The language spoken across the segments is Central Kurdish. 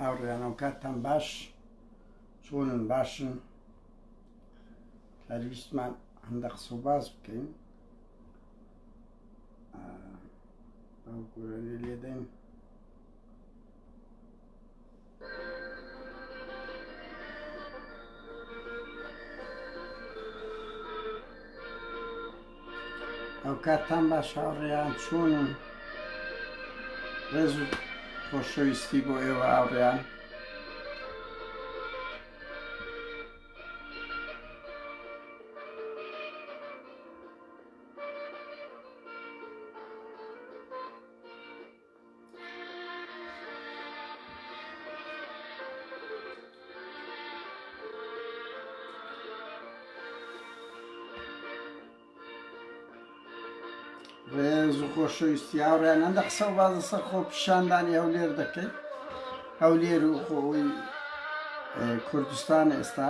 هاوڕێیانەوە کاتتان باش چۆنن باشن هەرویستمان هەندە قسە و باز بکەین گورانی لێدەین ئەوکاتتان باش هاوڕێیان چۆن و ڕێز و خۆشەویستی بۆ ئێوە هاوڕێیان ڕێز و خۆشەویستی هاوڕیان هەندە قسە و بازە سەر خۆ پیشاندانی هەولێر دەکەیت هەولێر و خۆی کوردستان ئێستا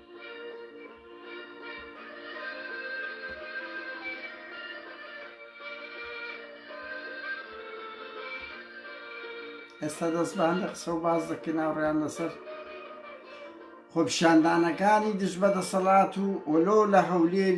ئێستا دەستبان لە قسە و باز دەکەین ناوڕیان لەسەر خۆپشاندانەکانی دژ بە دەسەڵات و ئۆلۆ لە هەولێر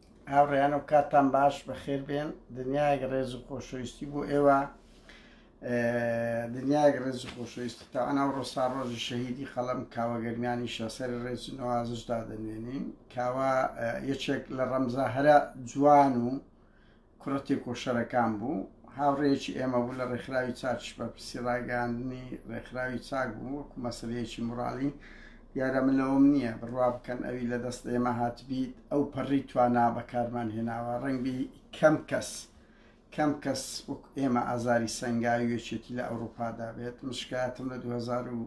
هاوڕێیان و کاتتان باش بەخێر بێن دنیایەک ڕێز و خۆشەویستی بۆ ئێوە دنیایەک ڕێز و خۆشەویستی تاوانە و ڕۆسا ڕۆژی شەهیدی قەڵم کاوە گەرمیانی شەسەر ڕێز و نوازشدا دەنوێنین کاوە یەکێک لە ڕەمزە هەرە جوان و کوڕە تێکۆشەرەکان بوو، هاوڕێیەکی ئێمە بوو لە ڕێکخراوی چاکیش بەرپرسی ڕاگەیاندنی ڕێکخراوی چاک بوو، وەکو مەسەلەیەکی موڕاڵی، دیارە من لەوەم نییە، بڕوا بکەن ئەوی لە دەست ئێمە هاتبیت ئەو پەڕی توانا بەکارمان هێناوە، ڕەنگبی کەم کەس کەم کەس وەکو ئێمە ئازاری سەنگاوی و یەکێتی لە ئەوڕوپادا بێت، من شکایەتم لە دوو هەزار و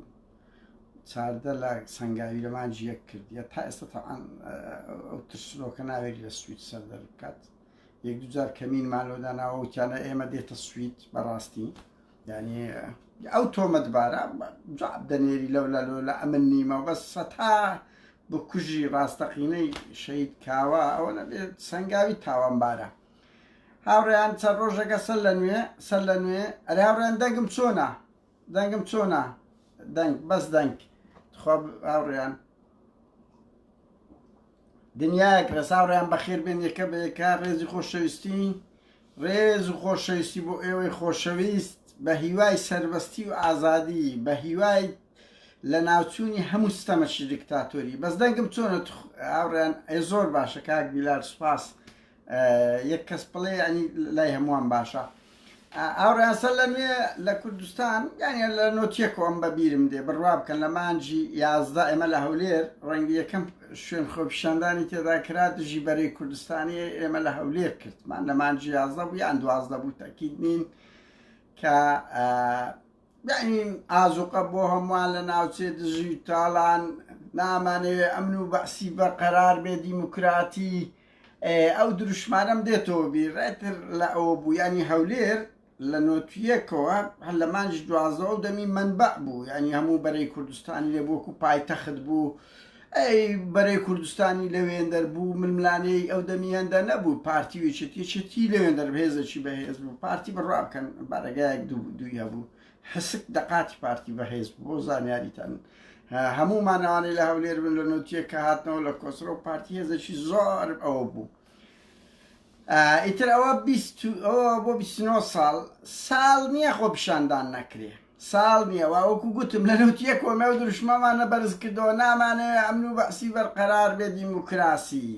چاردە لە سەنگاوی لە مانگی یەک کردیە، تا ئێستا تەبعەن ئەو ترسنۆکە ناوێری لە سویچ سەر دەربکات. یەک دوو جار کەمینمان لۆ داناوە وتیانە ئێمە دێتە سوید بەڕاستی یعنی ئەو تۆمەتبارە جواب دەنێری لەولا لۆلا ئەمن نیمە بەس سەتا بکوژی ڕاستەقینەی شەید کاوە ئەوە نەبێت سەنگاوی تاوانبارە هاوڕێیان چەند ڕۆژەکە سەر لە نوێ سەر لە نوێ ئەرێ هاوڕێن دەنگم چۆنا دەنگم چۆنە دەنگ بەس دەنگ تخوا هاوڕێیان دنیایەک ڕێز هاوڕێیان بەخێر بێن یەکە بە یەکە ڕێزی خۆشەویستی ڕێز و خۆشەویستی بۆ ئێوەی خۆشەویست بە هیوای سربەستی و ئازادی بە هیوای لە ناوچوونی هەموو ستەمەکی دیکتاتۆری بەس دەنگم چۆنە هاوڕێیان ئەی زۆر باشە کاک بیلار سوپاس یەک کەس بڵێ ینی لای هەمووان باشە ئاڕاستە لە نوێ لە کوردستان یانە لە نۆتیەکۆم بە بیرم دێ بڕوا بکەن لە مانجی یازدا ئێمە لە هەولێر ڕەنگی یەکەم شوێن خۆپیشاندانی تێدا کرا دژی بەرەی کوردستانی ئێمە لە هەولێر کردمان لە مانجی یازدە بوو یان دوازدە بوو تاکیید نین کە دەعیم ئازوقە بۆ هەموان لە ناوچەی دژی تالان نامانەوێ ئەمن و بەعسی بەرقەرار بێ دیموکراتی ئەو دروشمانەم دێتەوە بیر ڕێتر لە ئەوە بوو ینی هەولێر لە نۆتویەکەوە هەر لە مانجی دوازەوە دەمی منبع بوو ینی هەموو بەرەی کوردستانی لێ بۆکو پایتەخت بوو ئەی بەرەی کوردستانی لەوێندەر بوو ململانێی ئەو دەمی هەندە نەبوو پارتی ویچت یەکێتی لەوێندەر بەهێزەکی بەهێز بوو پارتی بڕوا بکەن بارەگایەک دوو دووی هەبوو حسک دەقاتی پارتی بەهێز بوو بۆ زانیاریتان هەموو مانەوانەی لە هەولێر بن لە نوتیە کە هاتنەوە لە کۆسرە و پارتی هێزەکی زۆر ئەوە بوو ئیتر ئەوە بۆ 29 ساڵ ساڵ نییە خۆ پیشاندان نەکرێ ساڵ نیە وا وەکو گوتم لە نەوتیە کۆمێو دروشمەمانە بەرز کردەوە نامانەوێ ئەمن و بەعسی بەرقەرار بێ دیموکراسی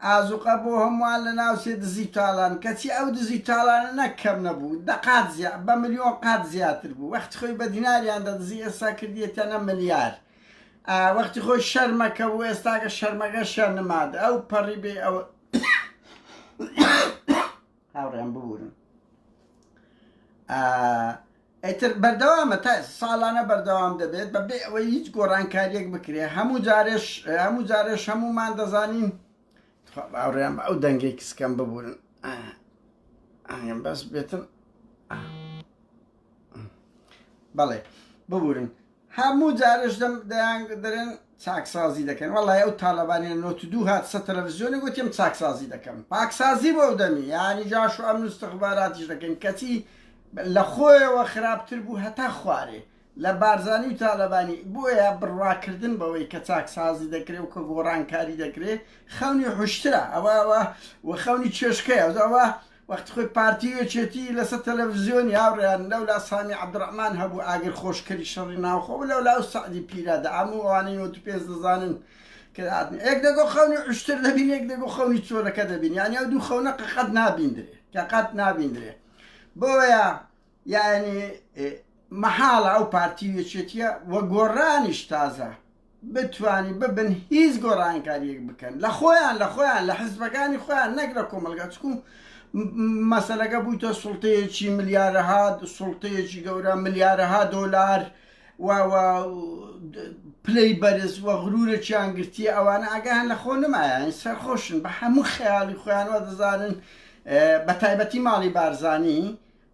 ئازوقە بۆ هەموان لە ناو چێ دزی تاڵان کەچی ئەو دزی تاڵانە نەک کەم نەبوو دە قات زیا بە ملیۆن قات زیاتر بوو وەختی خۆی بە دیناریان دەدزی ئێستا کردیەتەنە ملیار ئا وەختی خۆی شەرمەکە بوو ئێستاکە شەرمەکەشیان نماد ئەو پەڕی بێ ئەوە هاوڕێیان ببورن ئیتر بەردەوامە تا ساڵانە بەردەوام دەبێت بە بێ ئەوەی هیچ گۆڕانکاریەک بکرێ هەموو جارێش هەموو جارێش هەمومان دەزانین باوڕێن بە ئەو دەنگێک کسکەم ببورن ئاگەم بەس بێتن بەڵێ ببورن هەموو جارەش دەم دەیان دەرێن چاکسازی دەکەن وەڵای ئەو تالەبانیە نۆت دوو هات سە تەلەفزیۆنی گوتیم چاکسازی دەکەم پاکسازی بۆ ئەو دەمی یانی جاش و ئەمن استخباراتیش دەکەن کەچی لە خۆیەوە خراپتر بوو هەتا خوارێ لە بارزانی و تالەبانی بۆیە بڕواکردن بەوەی کە چاکسازی دەکرێ و کە گۆڕانکاری دەکرێ خەونی حوشترە ئەوە ئەوە و خەونی چێشکەیە ئەوە وەختی خۆی پارتی و یەکێتی لەسەر تەلەفزیۆنی هاوڕێیان لەولا سامی عەبدوڕەحمان هەبوو ئاگر خۆشکەری شەڕی ناوخۆ بوو لەولا ئەو سەعدی پیرە دە هەموو ئەوانەی نۆت و پێنج دەزانن کە دادن یەک دەگۆ خەونی عشتر دەبین یەک دەگۆ خەونی چۆلەکە دەبین یانی ئەو دوو خەونە قەت نابیندرێ کە قەت نابیندرێ بۆیە یانی مەحاڵە ئەو پارتی و یەکێتیە و گۆڕانیش تازە بتوانی ببن هیچ گۆڕانکاریەک بکەن لە خۆیان لە خۆیان لە حزبەکانی خۆیان نەک لە کۆمەلگا چکو مەسلەکە بوویتە سوڵتەیەکی ملیارەها سوڵتەیەکی گەورە ملیارەها دۆلار و پلەی بەرز و غرورەکیان گرتیە ئەوانە ئاگان لە خۆ نمایان سەرخۆشن بە هەموو خەیاڵی خۆیانەوە دەزانن بە تایبەتی ماڵی بارزانانی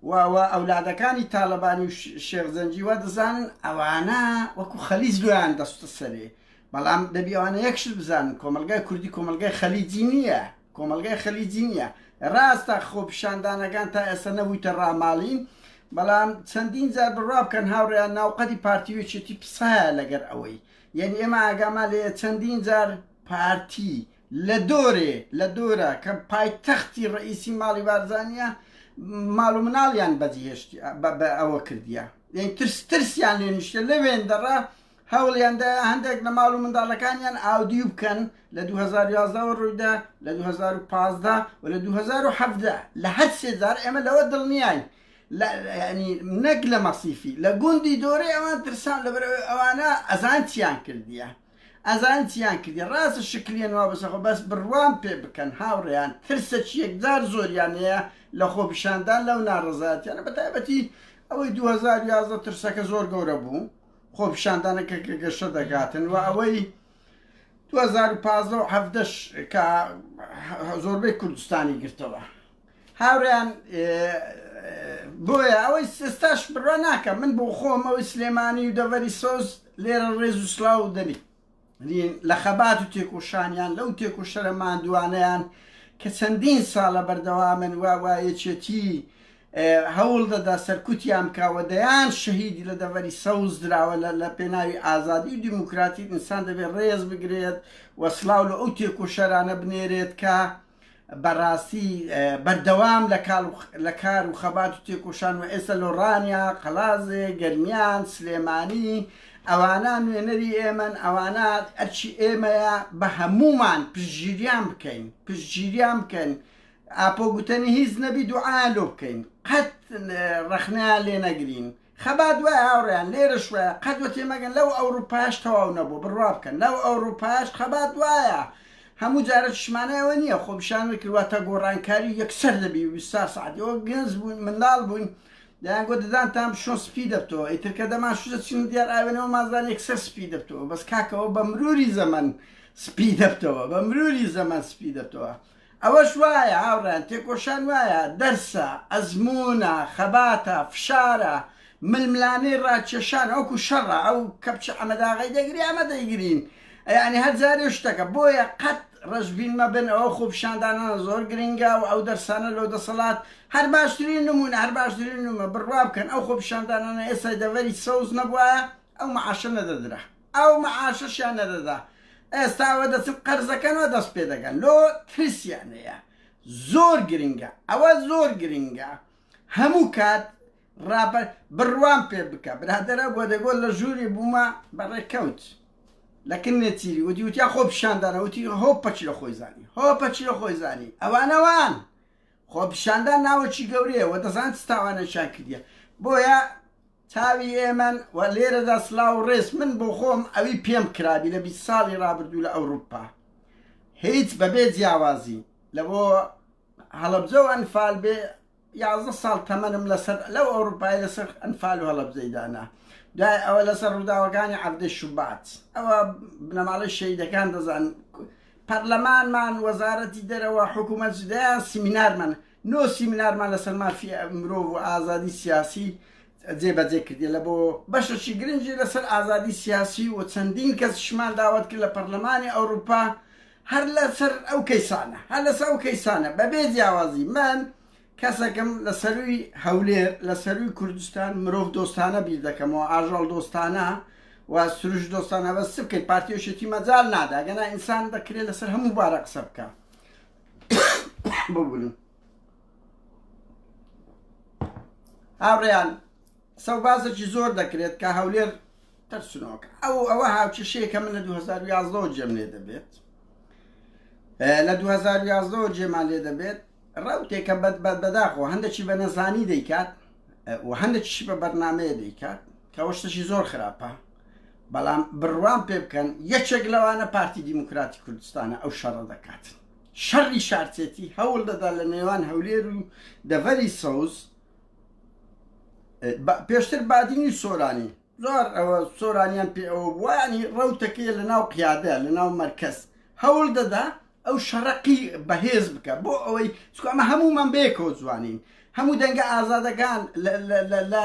و و ئەولادەکانی تالەبانی و شێخ زەنجی وا دەزانن ئەوانە وەکو خەلیج لۆیان دەستە سەرێ بەڵام دەبی ئەوانە یەکشت بزانن کۆمەلگای کوردی کۆمەلگای خەلیجی نییە کۆمەلگای خەلیجی نییە ڕاستە خۆپیشاندانەکان تا ئێستا نەبوویتە ڕاماڵین بەڵام چەندین جار بڕوا بکەن هاوڕێیان ناوقەدی پارتی وێچێتی پسایە لەگەر ئەوەی یعنی ئێمە ئاگامان لێ چەندین جار پارتی لە دۆرێ لە دۆرە کە پایتەختی ڕەئیسی ماڵی بارزانیە ماڵ و مناڵیان بەجیهێشتی بە ئەوە کردیە یعنی ترس ترسیان لێ نیشتە لە وێندەڕە هەوڵیاندا هەندێک لە ماڵ و منداڵەکانیان ئاودیو بکەن لە 2011 ڕوویدا لە 2015 و لە 2017 لە هەر سێجار ئێمە لەوە دڵنیای ینی نەک لە مەسیفی لە گوندی دۆرێ ئەوان ترسان لەبەر ئەوانە ئەزان چیان کردیە ئەزانی چیان کردیە ڕاستە شکلیە نوا بەسەر خۆ بەس بڕوام پێ بکەن هاوڕێیان ترسەکی یەکجار زۆریان هەیە لە خۆپیشاندان لەو ناڕەزایەتیانە بە تایبەتی ئەوەی دوو هەزار و یازدە ترسەکە زۆر گەورە بوو خۆپیشاندانەکە کە گەشە دەگاتن و ئەوەی دوو هەزار و پازدە و حەڤدەش کە زۆربەی کوردستانی گرتەوە هاوریان بۆیە ئەوەی ئێستاش بڕوا ناکەم من بۆ خۆم ئەوەی سلێمانی و دەڤەری سۆز لێرە ڕێز و سلااو و دەنی لە خەبات و تێکۆشانیان لەو تێکۆشەرە مادوانیان کە چەندین ساڵە بەردەوامن و وایەچێتی هەوڵ دەدا سەرکوتیان بکەوە دەیان شەهیدی لە دەڤەری سەوز دراوە لە پێناوی ئازادی و دیموکراتی ئینسان دەبێت ڕێز بگرێت وەسلااو لە ئەو تێکۆشەرانە بنێرێت کە بەڕاستی بەردەوام لە کار و خەبات و تێکۆشان و ئێستا لۆڕانیا، قەڵازێ، گەرمیان، سلێمانی ئەوانە نوێنەری ئێمەن ئەوانە ئەرکی ئێمەیە بە هەموومان پشتگیریان بکەین پشتگیریان بکەن ئاپۆ گوتەنی هیچ نەبی دوعایان لۆ بکەین قەت ڕەخنەیان لێ نەگرین. خەبات وایە هاوڕێیان لێرەش وایە قەت وە تێمەگەن لەو ئەوروپایەش تەواو نەبوو بڕوا بکەن لەو ئەوروپایەش خەبات وایە هەموو جارە چشمانە ئەوە نییە خۆپیشانەوەی کرواتە گۆڕانکاری و یەکسەر دەبی ویستا سعدی ئەوە گەنج بوون منداڵ بووین دەیان گۆ ددانتان بشۆن سپی دەبتەوە ئیتر کە دەمان شوزە چین دیار ئاوێنەوە مازان یەکسەر سپی دەبتەوە بەس کاکەوە بە مروری زەمەن سپی دەبتەوە بە مروری زەمەن سپی دەبتەوە ئەوەش وایە هاوڕێیان، تێکۆشان وایە، دەرسە، ئەزموونە، خەباتە، فشارە، ململانێی ڕاکێشانە، وەکو شەڕە، ئەو کەپچە ئەمە داغی دەگری ئەمە دەیگرین، یانی هەر جارێ شتەکە، بۆیە قەت ڕەشبین مەبن، ئەوە خۆپیشاندانانە زۆر گرنگە و ئەو دەرسانە لۆ دەسەڵات هەر باشترین نموونە، هەر باشترین نموونە، بڕوا بکەن ئەو خۆپیشاندانانە ئێستای دەڤەری سەوز نەبوایە ئەو مەعاشە نەدەدرا. ئەو معاشەشیان نەدەدا ئێستا وە دەچن قەرزەکەن وە دەست پێ دەگەن لۆ ترسیان هەیە زۆر گرنگە ئەوە زۆر گرنگە هەموو کات ڕاپەر بڕوام پێ بکە برادرە بۆ دەگۆ لە ژووری بوومە بەڕێکەوت لەکن نێچیری وتی وتیا خۆ پیشاندانە وتی هۆ پەچی لە خۆی زانی هۆ پەچی لە خۆی زانی ئەوانەوان خۆ پیشاندان ناوەکی گەورەیە وە دەزان تاوانەشان کردە بۆیە چاوی ئێمەن و لێرەدا سلاو و ڕێز من بۆ خۆم ئەوی پێم کرابی لە بیست ساڵی ڕابردوو لە ئەوروپا هیچ بەبێ جیاوازی لە بۆ هەڵەبجە و ئەنفال بێ یازدە ساڵ تەمەنم لەسەر لەو ئەوروپای لەسەر ئەنفال و هەڵەبجەی دانا دوای ئەوە لەسەر ڕووداوەکانی عەبدەی شوبات ئەوە بنەماڵەی شەیدەکان دەزان پەرلەمانمان وەزارەتی دەرەوە حکوومەت جدایان سیمینارمان نۆ سیمینارمان لەسەر مافی مرۆڤ و ئازادی سیاسی جێبەجێ کردی لە بۆ بەشەشی گرنگی لەسەر ئازادی سیاسی و چەندین کەسشمان داوت کرد لە پەرلەمانی ئەوروپا هەر لەسەر ئەو کەیسانە هەر لەسەر ئەو کەیسانە بەبێ جیاوازی من کەسەکەم لە سەروی هەولێر لە سەروی کوردستان مرۆڤ دۆستانە بیر دەکەمەوە ئاژەڵ دۆستانە و سروش دۆستانە بەس بکەیت پارتیۆشێتی مەجال نادا گەنا ئینسان دەکرێت لەسەر هەموو بارە قسە بکە ببورن هاوڕێیان سەوبازێکی زۆر دەکرێت کە هەولێر ترسنۆکە ئەو ئەوە هاوکێشەیەکە من لە 2011 جێم لێ دەبێت لە 2011 جێمان لێ دەبێت ڕوتێکە بەد بەد بەداخۆ هەندێکی بە نەزانی دەیکات و هەندێکیشی بە بەرنمەیە دەیکات کەەوە شتەشی زۆر خراپە بەڵام بڕوام پێ بکەن یەکێک لەوانە پارتی دیموکراتی کوردستانە ئەو شەڕە دەکات شەڕی شارچێتی هەوڵ دەدا لە نێوان هەولێر و دەڤەری سەوز پێشتر بادینی سۆرانی زۆر ئەوە سۆرانیان پێ ئەوە بووانی ڕوتەکەی لە ناو قیادە لە ناو مەرکەز هەوڵ دەدا ئەو شەڕقی بەهێز بکە بۆ ئەوەی چکەمە هەمومان بەیەکەوە جوانین هەموو دەنگە ئازادەکان لە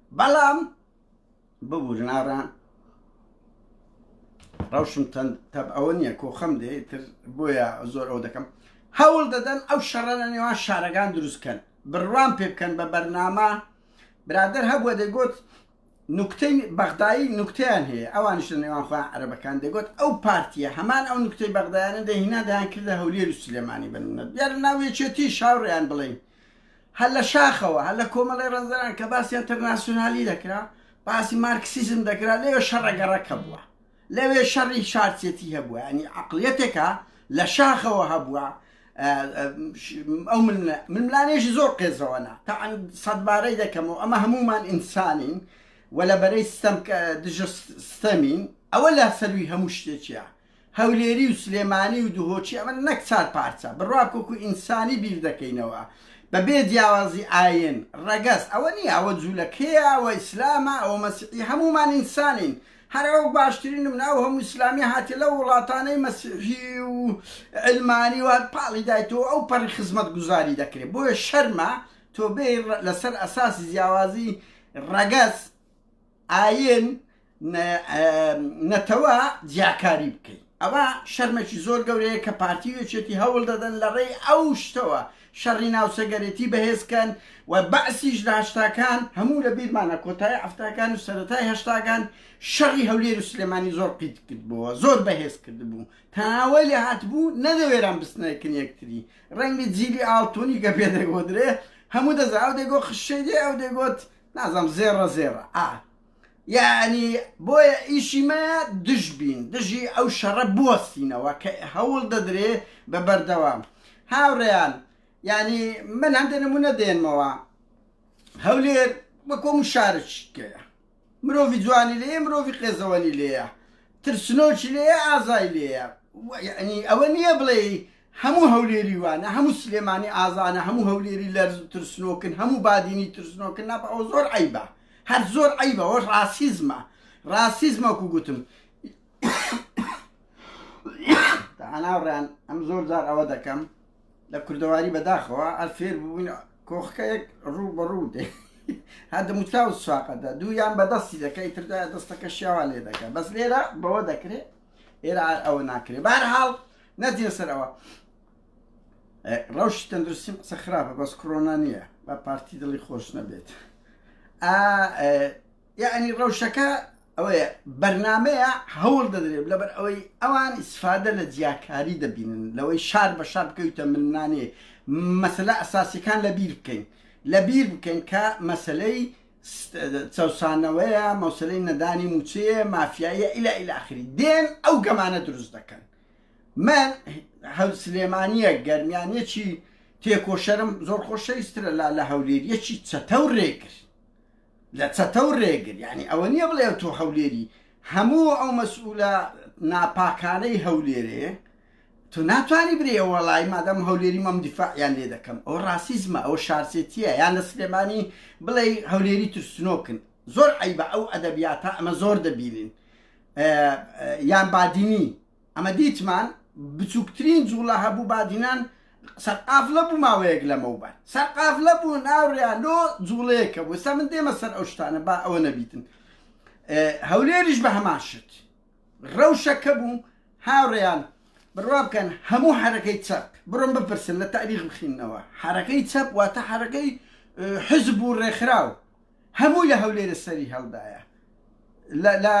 بەڵام ببورن ئاران ڕەوشم تەند تەب ئەوە نییە کۆخەم دێ تر بۆیە زۆر ئەو دەکەم هەوڵ دەدەن ئەو شەڕەنە نێوان شارەکان دروستکەن بڕوان پێ بکەن بە بەرنامە برادر هەبووە دەگوت نوکتەی بەغدایی نوکتیان هەیە ئەوانش لە نێوان خۆیان عربەکان دەگوت ئەو پارتیە هەمان ئەو نوکتەی بەغدایانە دەهینا دەیان کردە هەولێر و سلێمانی بنە دیار ناوێچێتی شاوڕیان بڵین هەر لە شاخەوە، هەر لە کۆمەڵەی ڕەنجدەران کە باسی ئەنتەرناسیونالی دەکرا، باسی مارکسیزم دەکرا، لەوێ شەڕە گەڕەک هەبووە. لەوێ شەڕی شارچێتی هەبووە. یانی عەقڵیەتێکە لە شاخەوە هەبووە، ئەو ململانێشی زۆر قێزەوەنە تەعەن سەدبارەی دەکەمەوە، ئەمە هەموومان ئینسانین و لە بەرەی ستەم دژە ستەمین، ئەوە لە سەرووی هەموو شتێکیە. هەولێری و سلێمانی و دهۆکی ئەمە نەک چار پارچە بڕواک وەکو ئینسانی بیر دەکەینەوە بەبێ جیاوازی ئاین، ڕەگەز ئەوە نیە ئەوە جولەکەیە ئەوە ئیسلامە ئەوە مەسیحی هەموومان ئینسانین هەر ئەوە باشترین نمونە ئەو هەموو ئیسلامیە هاتیە لەو وڵاتانەی مەسیحی و علمانی و پاڵی دایتەوە ئەو پەڕی خزمەت گوزاری دەکرێت بۆیە شەرمە تۆ بێ لەسەر ئەساسی جیاوازی ڕەگەز ئاین نەتەوە جیاکاری بکەی ئەوە شەرمەکی زۆر گەورەیە کە پارتی و یەکێتی هەوڵ دەدەن لە ڕێی ئەو شتەوە شەڕی ناوچەگەرێتی بەهێزکەن و بەعسیش لە هەشتاکان هەموو لە بیرمانە کۆتای ئەفتاکان و سەرەتای هەشتاکان شەڕی هەولێر و سلێمانی زۆر قیت کردبووە زۆر بەهێز کردبوو تاوەی لە هاتبوو نەدەوێران بستنەکن یەکتری ڕەنگی جیلی ئاڵتونی گە پێ دەگۆدرێ هەموو دەزا ئەو دەگۆ خشەی دێ ئەو دەگۆت نازانم زێڕە زێڕە ئا یانی بۆیە ئیشی مە دژ بین دژی ئەو شەڕە بوەستینەوە کە هەوڵ دەدرێ بە بەردەوام هاوڕێیان ینی من هەندێک نمونە دێنمەوە هەولێر وەکۆم و شارچکەیە مرۆڤی جوانی لێ مرۆڤی قێزەوەنی لێە ترسنۆکی لێە ئازای لێە ینی ئەوە نییە بڵێ هەموو هەولێری وانە هەموو سلێمانی ئازانە هەموو هەولێری لەرز و ترسنۆکن هەموو بادینی ترسنۆکن نابە ئەوە زۆر عیبە هەر زۆر عیبە ئەوە ڕاسیزمە ڕاسیزمە وەکو گوتم تەناوڕیان ئەم زۆر جار ئەوە دەکەم لە کوردەواری بەداخەوە ئەر فێر بوون کۆخەکە یەک ڕوو بە ڕوو دێ هەر دەموچاو سواقەدا دوویان بەدەستی دەکەی تردا دەستەکە شیاوا لێ دەکە بەس لێرە بەوە دەکرێت ئێرە ئەوە ناکرێت بارحاڵ نەجیە سەرەوە ڕەوشی تەندروستیم قسە خراپە بەس کڕۆنا نییە بە پارتی دڵی خۆش نەبێت یعنی ڕەوشەکە ئەوەیە بەرنمەیە هەوڵ دەدرێت لەبەر ئەوەی ئەوان ئیسفادە لە جیاکاری دەبینن لەوەی شار بە شار بکەویتە منانێ مەسلە ئەساسیەکان لە بیر بکەین لە بیر بکەین کە مەسلەی چەسانەوەیە مەوسلەی نەدانی موچەیە مافیایە ئیلا ئیلاخری دێن ئەو گەمانە دروست دەکەن من هەل سلێمانیە گەرمیان یەکی تێکۆشەرم زۆر خۆشەویسترە لا لە هەولێر یەکی چەتە و رێگر لە چەتە و رێگر یعنی ئەوە نییە بڵێ تۆ هەولێری هەموو ئەو مەسئولە ناپاکانەی هەولێرێ تۆ ناتوانانی برێ وەڵی مادەم هەولێری مەم دیفاعیان لێ دەکەم ئەو ڕاستیزمە ئەو شارسێتیە یان لە سلێمانی بڵێ هەولێری ترسنۆکن زۆر عەیبە ئەو ئەدەبیاتە ئەمە زۆر دەبینین یان بادینی ئەمە دیتمان بچووکترین جوڵە هەبوو بادینان سەرقافلە بوو ماوەیەک لەمەوبەر سەرقافلە بوو ناوڕیا لۆ جوڵەیەکە بوو سا من دێمە سەر ئەو شتانە با ئەوە نەبیتن هەولێریش بە هەمان شت ڕەوشەکە بوو هاوڕێیان بڕوا بکەن هەموو حرەکەی چەپ بڕۆم بپرسن لە تاریخ بخینەوە حرەکەی چەپ واتە حرەکەی حزب و ڕێکخراو هەموو لە هەولێرە سەری هەڵدایە لە لە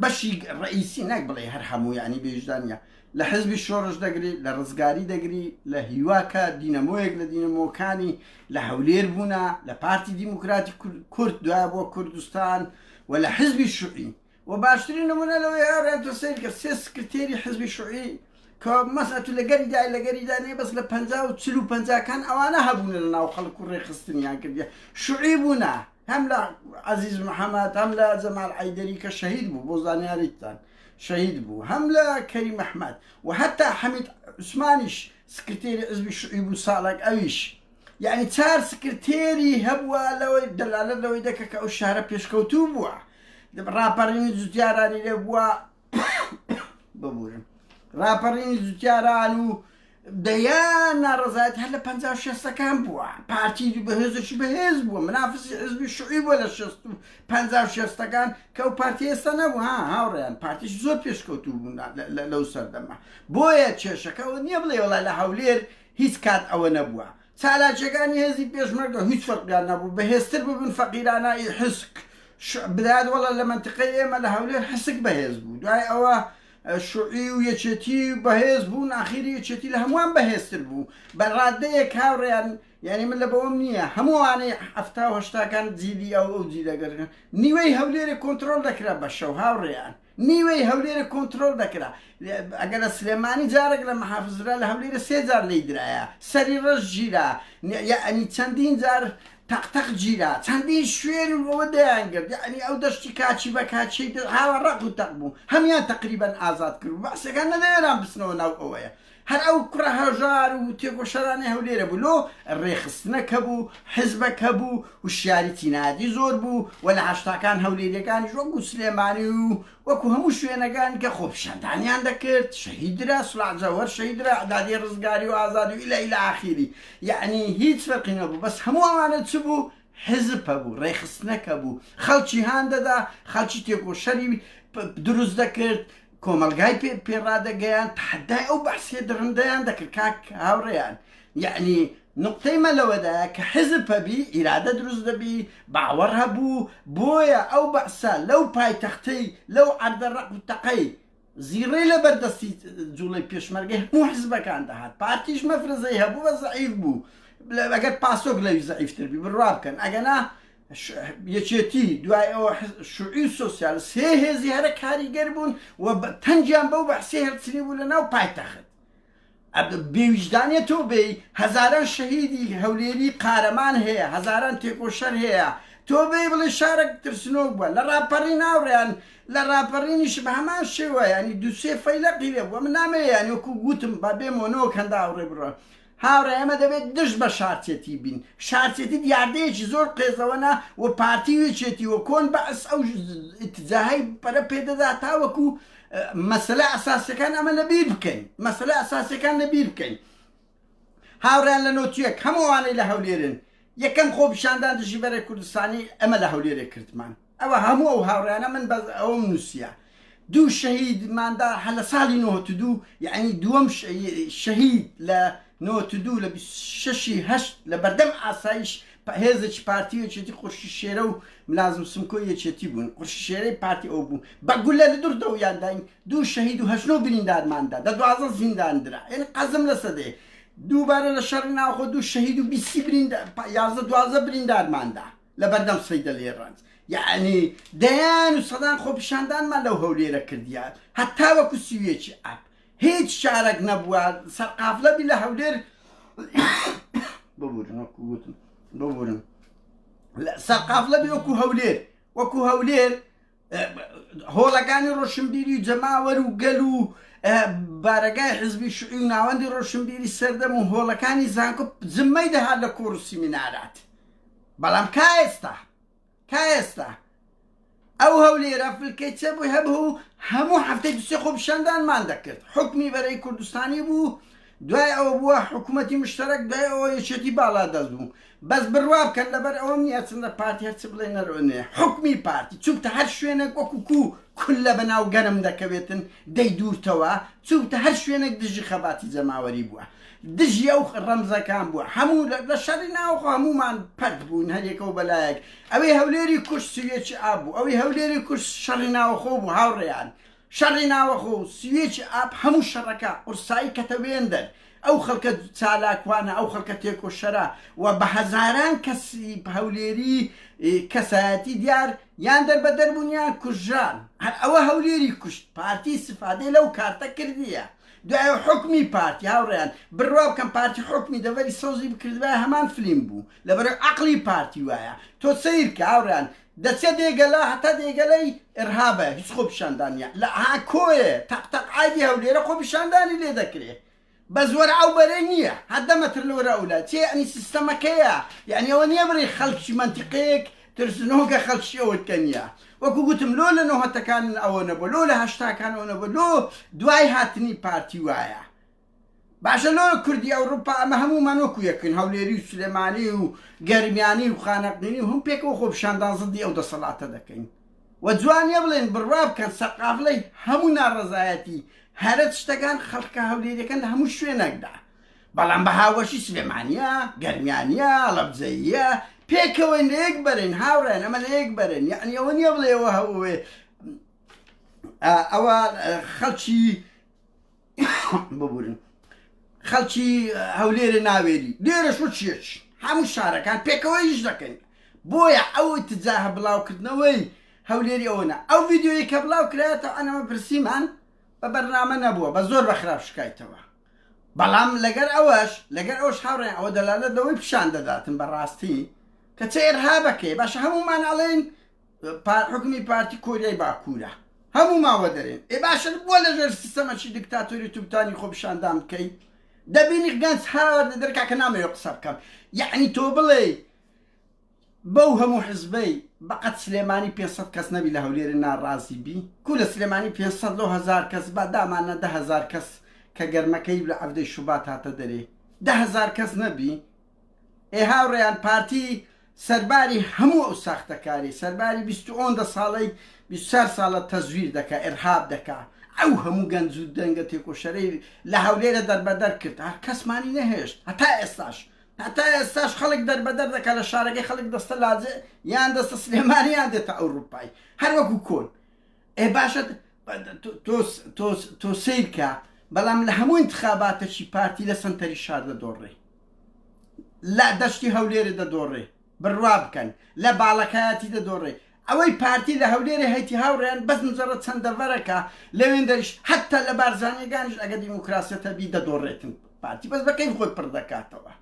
بەشی ڕئیسی نەک بڵێ هەر هەموو یعنی بێژدانە لە حزبی شۆڕش دەگری لە ڕزگاری دەگری لە هیواکە دینەمۆیەک لە دینەمۆکانی لە هەولێر بوونا لە پارتی دیموکراتی کورد دوای بۆ کوردستان و لە حزبی شوعی وە باشترین نمونە لەوەی ئەرێن تۆ سەیر کە سێ سکرتێری حزبی شوعی کە مەسە تو لەگەری دای لەگەری دانێ بەس لە پەنجا و چل و پەنجاکان ئەوانە هەبوونە لە ناو خەڵک و ڕێخستنیان کردە شوعی بوونە هەم لە عزیز محەممەد هەم لە جەمال عیدەری کە شەهید بوو بۆ زانیاریتان شەهید بوو هەم لە کەری مححمد و هەتا حەمید عوسمانیش سکرتێری عزبی شوعی بوو ساڵک ئەویش یعنی چار سکرتێری هەبووە لەوەی دەلالت لەوەی دەکە کە ئەو شارە پێشکەوتوو بووە ڕاپەڕینی جوتیارانی لێ بووە ببورم ڕاپەڕینی جوتیاران و دەیان ناڕزایت هەر لە پ شێستەکان بووە پارتی بەهێزشی بەهێز بووە منافسی حزبی شوعی بووە لە شێست و پ شێستەکان کە و پارتی ئێستا نەبوو ها هاوڕێیان پارتیش زۆر پێشکەوتو بوون لەو سەردەمە بۆیە کێشەکەەوە نییە بڵێ وڵای لە هەولێر هیچ کات ئەوە نەبووە چالاکیەکانی هێزی پێشمەرگە هویچ فەرقیان نەبوو بەهێزتر ببن فەقیرانە ی حسک شع بدات وەللە لە مەنتقەی ئێمە لە هەولێر حسک بەهێز بوو دوای ئەوە شعی و یەکێتی بەهێز بوون ئاخیری یەکێتی لە هەمووان بەهێزتر بوو بە رادەیەک هاوریان یانی من لە بەوەم نییە هەموو ئەوانەی حەفتا و هەشتاکان جیلی ئەو ئەو جیلە گەر نیوەی هەولێرێ کۆنترۆل دەکرا بە شەو هاوریان نیوەی هەولێرە کۆنترۆل دەکرا ئەگەر لە سلێمانی جارێک لە محافزرا لە هەولێرە سێ جار لێی درایە سەری ڕەش گیرا یعنی چەندین جار تەق تەق گیرا چەندین شوێن و ئەوە دەیان گرت یعنی ئەو دەشتی کاچی بە کاچی هاوە ڕق و تەق بوو هەمیان تقریبا ئازاد کرد بەعسەکان نەدەوێران بچنەوە ناو ئەوەیە هەر ئەو کوڕە هەژار و تێکۆشەرانەی هەولێرە بوو لۆ ڕێخستنە کە بوو حزبە کە بوو وشیاری تینادی زۆر بوو و لە هەشتاکان هەولێریەکانیش وەکو سلێمانی و وەکو هەموو شوێنەکان کە خۆپیشاندانیان دەکرد شەهیدرا سلاجەوەر شەیدرا عدادی ڕزگاری و ئازادی و ئیلە ئیلە ئاخیری یعنی هیچ فەرقی نەبوو بەس هەموو ئەوانە چ بوو حزب هەبوو ڕێخستنەکە بوو خەڵکی هان دەدا خەڵکی تێکۆشەری دروست دەکرد کۆمەڵگای پێ پێ ڕادەگەیاند تەحەدای ئەو بەعسیە دڕندەیان دەکرد کاک هاوڕێیان یەعنی نوقتەی مە لەوەدایە کە حزب هەبی ئیرادە دروست دەبی باوەڕ هەبوو بۆیە ئەو بەعسە لەو پایتەختەی لەو عەردە ڕەق و تەقەی زیڕەی لە بەردەستی جوڵەی پێشمەرگەی هەموو حزبەکان دەهات پارتیش مەفرەزەی هەبوو بە زەعیف بوو ئەگەر پاسۆک لەوی زەعیفتر بی بڕوا بکەن ئەگەنا یەکێتی، دوای ئەوە شوعی و سۆسیال، سێ هێزی هەرە کاریگەر بوون و تەنگیان بەو بەعسیە هەڵچنی بوو لە ناو پایتەخت. بێویژدانە تۆ بێی هەزاران شەهیدی هەولێری قارەمان هەیە، هەزاران تێکۆشەر هەیە، تۆ بێی بڵێ شارەک ترسنۆک بووە، لە ڕاپەڕین ئاوڕیان، لە ڕاپەڕینیش بە هەمان شێوە یانی دوو سێ فەیلەقی لێ بووە، من نامەوێ یانی وەکوو گووتم با بێمەوە نەوەک هەندە ئاوڕێ بڕۆن. هاوڕێ ئێمە دەبێت دژ بە شارچێتی بین، شارچێتی دیاردەیەکی زۆر قێزەوەنە و پارتی و یەکێتی و کۆن بەعس ئەو ئیتجاهەی پەرە پێدەدات تاوەکو مەسەلە ئەساسیەکان ئەمە لە بیر بکەین مەسەلە ئەساسیەکان لە بیر بکەین هاوڕیان لە نۆتیەک هەمووانەی لە هەولێرن یەکەم خۆپیشاندان دژی بەرە کوردستانی ئەمە لە هەولێرێ کردمان ئەوە هەموو ئەو هاوڕێیانە من بەس ئەوەم نوسیە دوو شەهید ماندا هە لە ساڵی نۆهەتو دوو یەعنی دووەم شەهید لە نۆهەتو دوو لە بیست شەشی هەشت لە بەردەم ئاسایش هێزێکی پارتی و یەکێتی قورشی شێرە و ملازم سمکۆی یەکێتی بوون قورشی شێرەی پارتی ئەو بوو بە گولە لە دوور دەوریان داین دوو شەهید و هەشت نۆ بریندارماندا دە دوازە زیندان درا یعنی قەزم لە سەدەیە دووبارە لە شەڕی ناوخۆ دوو شەهید و بیست بریندار یازدە دوازدە بریندارماندا لەبەردەم صەیدەلەی ڕەنج یەعنی دەیان و سەدان خۆپیشاندانمان لەو هەولێرە کردیە هەتا وەکو سی و یەکی ئاب هیچ شارەک نەبووە سەرقافلە بی لە هەولێر ببورن وەکو گوتم ببورن سەرقافلە بی وەکو هەولێر وەکو هەولێر هۆڵەکانی ڕۆشنبیری و جەماوەر و گەل و بارەگای حزبی شوعی و ناوەندی ڕۆشنبیری سەردەم و هۆڵەکانی زانکۆ زممەی دەهات لە کۆڕ و سیمینارات بەڵام کا ئێستا کا ئێستا ئەو هەولێرە فلکەی چێ بووی هەبوو هەموو هەفتەی دوسێ خۆپیشاندانمان دەکرد حکمی بەرەی کوردستانی بوو دوای ئەوە بووە حکومەتی مشتەرەک دوای ئەوە یەکێتی باڵادەست بوو بەس بڕوا بکەن لەبەر ئەوەم نیە چونە پارتی هەرچ بڵێ نەرۆ نێ حکومی پارتی چونکتە هەر شوێنێک وەکو کو کولە بەناو گەرم دەکەوێتن دەی دوورتەوە چونکتە هەر شوێنێک دژی خەباتی جەماوەری بووە دژی ئەو ڕەمزەکان بووە هەموو لە شەڕی ناوخۆ هەمومان پەت بوون هەریەکەو بەلایەک ئەوەی هەولێری کوشت سویەکی ئابوو ئەوەی هەولێری کوشت شەڕی ناوخۆ بوو هاوڕێیان شەڕی ناوەخۆ و سویچی ئاب هەموو شەڕەکە قورسایی کەتە وێندەر ئەو خەڵکە چالاکوانە ئەو خەڵکە تێکۆشەرە و بە هەزاران کەسی هەولێری کەسایەتی دیار یان دەربەدەر بوون یان کوژران هەر ئەوە هەولێری کوشت پارتی استفادەی لەو کارتە کردیە دوایە حوکمی پارتی هاوڕێیان بڕوا بکەن پارتی حوکمی دەڤەری سەوزی بکردبایە هەمان فلیم بوو لەبەرەو عەقڵی پارتی وایە تۆ سەیرکە هاوڕێیان دەچێ دێگەلە هەتا دێگەلەی ئرهابە هیچ خۆ پیشاندان نیە لە ها کۆێ تەق تەق ئای دی هەولێرە خۆ پیشاندانی لێ دەکرێ بەس وەر ئەو بەرەی نییە هەدە مەتر لەوەرە ئەولا چێ ئەنی سیستەمەکەیە یعنی ئەوە نییە بڕی خەڵکی منتیقەیەک ترسنۆکە خەڵکی ئەوت کە نییە وەکو گوتم لۆ لە نۆهەتەکان ئەوە نەبوو لۆ لە هەشتاکان ئەوە نەبوو لۆ دوای هاتنی پارتی وایە باشە لۆ کوردی ئەوڕوپا ئەمە هەموومان وەکو یەکن هەولێری و سلێمانی و گەرمیانی و خانەقینی و هەم پێکەوە خۆپیشاندان زدی ئەو دەسەڵاتە دەکەین و جوان نیە بڵێن بڕوا بکەن سەرقافلەی هەموو ناڕەزایەتی هەرە شتەکان خەڵکە هەولێریەکەن لە هەموو شوێنەکدا بەڵام بە هاوبەشی سلێمانیە گەرمیانیە لەبجەیە پێکەوەین لە یەک بەرین هاوڕێن ئەمە لە یەک بەرین یعنی ئەوە نیە بڵێەوە هەوێ ئەوە خەڵکی ببورن خەڵکی هەولێرە ناوێری لێرە شو چیەچ هەموو شارەکان پێکەوە یش دەکەین بۆیە ئەو تجاهە بڵاوکردنەوەی هەولێری ئەوەنە ئەو یددیوی کە بڵاو کرایەتە ئەنەمە پرسیمان بە بەرنامە نەبووە بە زۆر بە خراپ شکایتەوە بەڵام لەگەر ئەوەش لەگەر ئەوش هاوڕێن ئەوە دەلالت لەوەی پیشان دەداتن بەڕاستی کە چێرها بەکەی باشە هەمومان ئەڵێن حوکمی پارتی کۆریای باکورە هەموو ماوە دەرێن ئێ باشە بۆ لەژێر سیستەمەکی دکتاتۆری توبتانی خۆپیشاندان بکەی دەبینی گەنج هەر لە دەرکا کە نامەوێ قسە بکەم یعنی تۆ بڵێ بەو هەموو حزبەی بەقەت سلێمانی 500 کەس نەبی لە هەولێرە ناڕازی بی کو لە سلێمانی 500 لۆ هزار کەس با دامانە دههزار کەس کە گەرمەکەی لە عەفدەی شوبات هاتە دەرێ دههزار کەس نەبی ئێ هاوڕێیان پارتی سەرباری هەموو ئەو ساختەکاری سەرباری بیست و ئۆندە ساڵەی بیست و چار ساڵە تەزویر دەکا ئێرهاب دەکا ئەو هەموو گەنج و دەنگە تێکۆشەرەی لە هەولێرە دەربەدەر کرد هەر کەسمانی نەهێشت هەتا ئێستاش هەتا ئێستاش خەڵک دەربەدەر دەکا لە شارەکەی خەڵک دەستە لاجێ یان دەستە سلێمانیان دێتە ئەوروپای هەر وەکو کۆن ئێ باشە تۆ سیرکە بەڵام لە هەموو انتخاباتەکی پارتی لە سەنتەری شار دەدۆڕێ لە دەشتی هەولێرێ دەدۆڕێ بڕوا بکەن لە باڵەکایەتی دەدۆڕێ ئەوەی پارتی لە هەولێرێ هەیتی هاوڕێیان بەس مجەڕە چەند دەڤەرەکە لەوێندەریش هەتا لە بارزانیەکانیش ئەگە دیموکراسیەتە بی دەدۆڕێتن پارتی بەس بە کەیف خۆی پڕ دەکاتەوە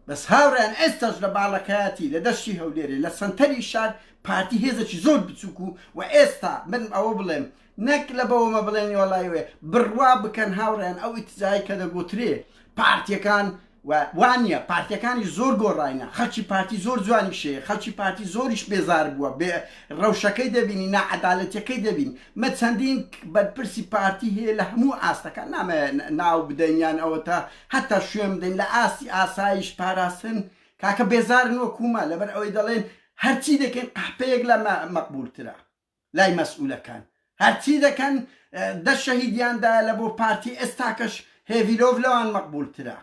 بەس هاوڕێیان ئێستاش لە باڵەکایەتی لە دەشتی هەولێرێ لە سەنتەری شار پارتی هێزەکی زۆر بچووک و و ئێستا من ئەوە بڵێم نەک لە بەوەمە بڵێن وەڵی وێ بڕوا بکەن هاوڕێن ئەو ئیتزای کە دەگوترێ پارتیەکان وانە پارتەکانی زۆر گۆڕینە خەڵکی پارتی زۆر جوانی شێ خەڵکی پارتی زۆریش بێزار بووە بێ ڕەوشەکەی دەبینی نەعادالەتەکەی دەبین مە چەندین بەرپرسی پارتی هەیە لە هەموو ئاستەکە نامە ناو بدەینیان ئەوە تا هەتا شوێن بدەین لە ئاستی ئاسایش پاراستن کاکە بێزارن وە کومە لەبەر ئەوەی دەڵێن هەرچی دەکەین قەحپەیەک لە مەقبولترە لای مەسئولەکان هەرچی دەکەن دە شەهیدیان دایە لە بۆ پارتی ئێستاکەش هێڤیلۆڤ لەوان مەقبول ترە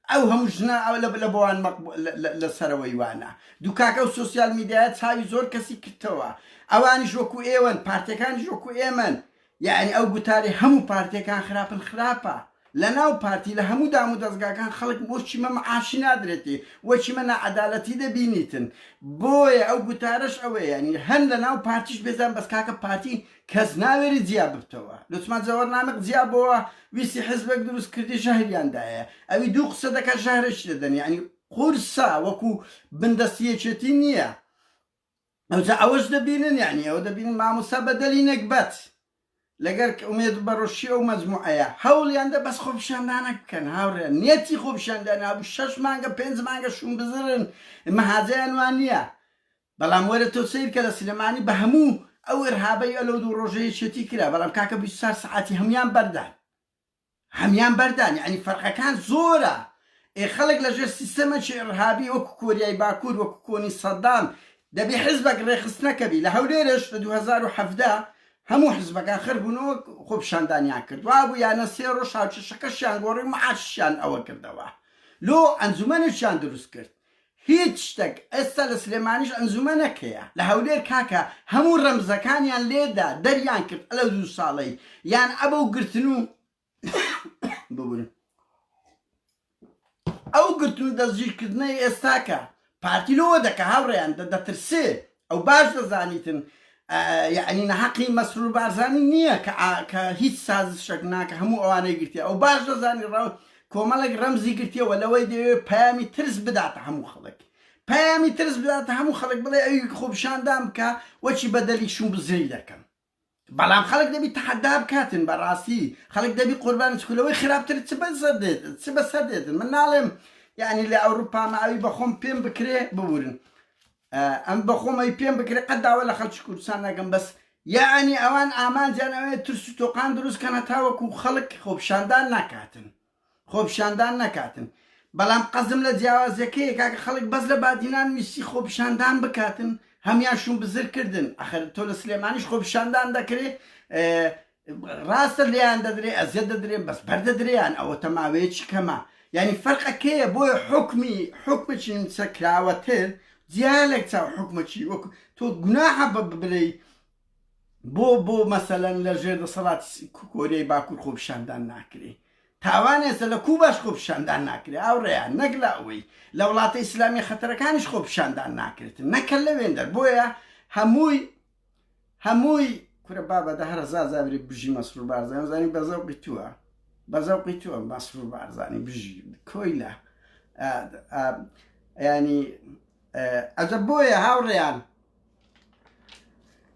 ئەو هەموو ژنە ئەو لە لە بۆوان مەقبول لە سەرەوەی وانە دوکاکە و سۆسیال میدیایە چاوی زۆر کەسی کردتەوە ئەوانیش وەکو ئێوەن پارتیەکانیش وەکو ئێمەن یەعنی ئەو گوتارەی هەموو پارتیەکان خراپن خراپە لەناو پارتی لە هەموو دام و دەزگاکان خەڵک بۆ چیمە معاشی نادرێتی وە چیمە ناعەدالەتی دەبینیتن بۆیە ئەو گوتارەش ئەوەیە یەعنی هەن لەناو پارتیش بێزان بەس کاکە پارتی کەس ناوێری جیا ببتەوە لوتمان جەوەر نامق جیا بۆوە ویستی حزبەک دروست کردی ژەهریان دایە ئەوی دوو قسە دەکا ژەهرەشی دەدەن یەعنی قورسە وەکو بندەستی یەکێتی نیە ئەوجا ئەوەش دەبینن یعنی ئەوە دەبینن مامۆستا بەدەلی نەگبەت لەگەر ئومێد بەڕۆشی ئەو مەجموعەیە هەوڵیان دە بەس خۆپیشاندانەک بکەن هاوڕێن نیەتی خۆپیشاندان هەبوو شەش مانگە پێنج مانگە شوم بزرن مەهازەیان وان نییە بەڵام وەرە تۆ سیر کە لە سلێمانی بە هەموو ئەو ئرهابەی ئەلەو دوو ڕۆژەیە چێتی کرا بەڵام کاکە 24 سعاتی هەموان بەردان هەمیان بەردان یەعنی فەرقەکان زۆرە ئێ خەڵک لە ژێر سیستەمەکی ئڕهابی وەکو کۆریای باکور وەکو کۆنی سەدام دەبی حزبەک ڕێخستنەکە بی لە هەولێرش لە دوو هەزار و حەڤدە هەموو حزبەکان خر بوون و خۆپیشاندانیان کرد وابوو یانە سێ ڕۆژ هاوکێشەکەشیان گۆڕی و معاشیشیان ئەوە کردەوە لۆ ئەنجومەنێکیان دروست کرد هیچ شتەک ئێستا لە سلێمانیش ئەنجومەنەک هەیە لە هەولێر کاکە هەموو رەمزەکانیان لێدا دەریان کرد ئەلە دوو ساڵەی یان ئەبەو گرتن و ببورن ئەو گرتن و دەستگیر کردنەی ئێستاکە پارتی لۆوە دەکە هاوڕێیان دە دەترسێ ئەو باش دەزانیتن یعنی نەحەقی مەسرور بارزانی نییە کە هیچ سازشێک ناکە هەموو ئەوانەی گرتیە ئەو باش دەزانی ڕاو کۆمەڵێک ڕەمزی گرتیەوە لەوەی دەوێت پامی ترس بداتە هەموو خەڵک پامی ترس بداتە هەموو خەڵک بڵێ ئەوی خۆپشاندان بکە وەچی بەدەلی شوم بزری دەکەم بەڵام خەڵک دەبی تەحەدا بکاتن بەڕاستی خەڵک دەبی قوربانت چکو لەوەی خراپتر چ بەسەر دێت چ بەسەر دێتن من ناڵێم یعنی لە ئەوروپا مە ئەوی بەخۆم پێم بکرێ ببورن ئەم بەخۆم ئەوی پێم بکرێ قەت داوا لە خەڵکی کوردستان نەکەم بەس یعنی ئەوان ئامانجیان ئەوێ ترس و تۆقان دروست کەن هەتاوەکو خەڵک خۆپیشاندان ناکاتن خۆپیشاندان نەکاتن بەلام قەزم لە جیاوازیەکەیە کاکە خەلک بەس لە بادینان ویستی خۆپیشاندان بکاتن هەمیان شون بزر کردن ئەخەر تۆ لە سلێمانیش خۆپیشاندان دەکرێ راستە لێیان دەدرێ ئەزیەت دەدرێ بەس بەر دەدرێیان ئەوە تە ماوەیەکی کەمە یانی فەرق ئەکەیە بۆیە حوکمی حوکمەکی نوسە کراوەتر جیا لە چاو حوکمەکی وەک تۆ گوناحە بە بلێی بۆ بۆ مەسەلەن لە ژێر دەسەڵاتی کۆریای باکور خۆپیشاندان ناکرێ تاوان ئێستا لە کوباش خۆپیشاندان ناکرێ ئاوڕێیا نەک لە ئەوەی لە وڵاتە ئیسلامی خەتەرەکانیش خۆپیشاندان ناکرێت نەکە لە وێندەر بۆیە هەمووی هەمووی کورە بابە دە هەرە زازاوری بژی مەسرور بارزانانی زانی بە زەوقی تووە بە زەوقی تووە مەسرور بارزانانی بژی کۆیلە ینی ئەجە بۆیە هاوڕێیان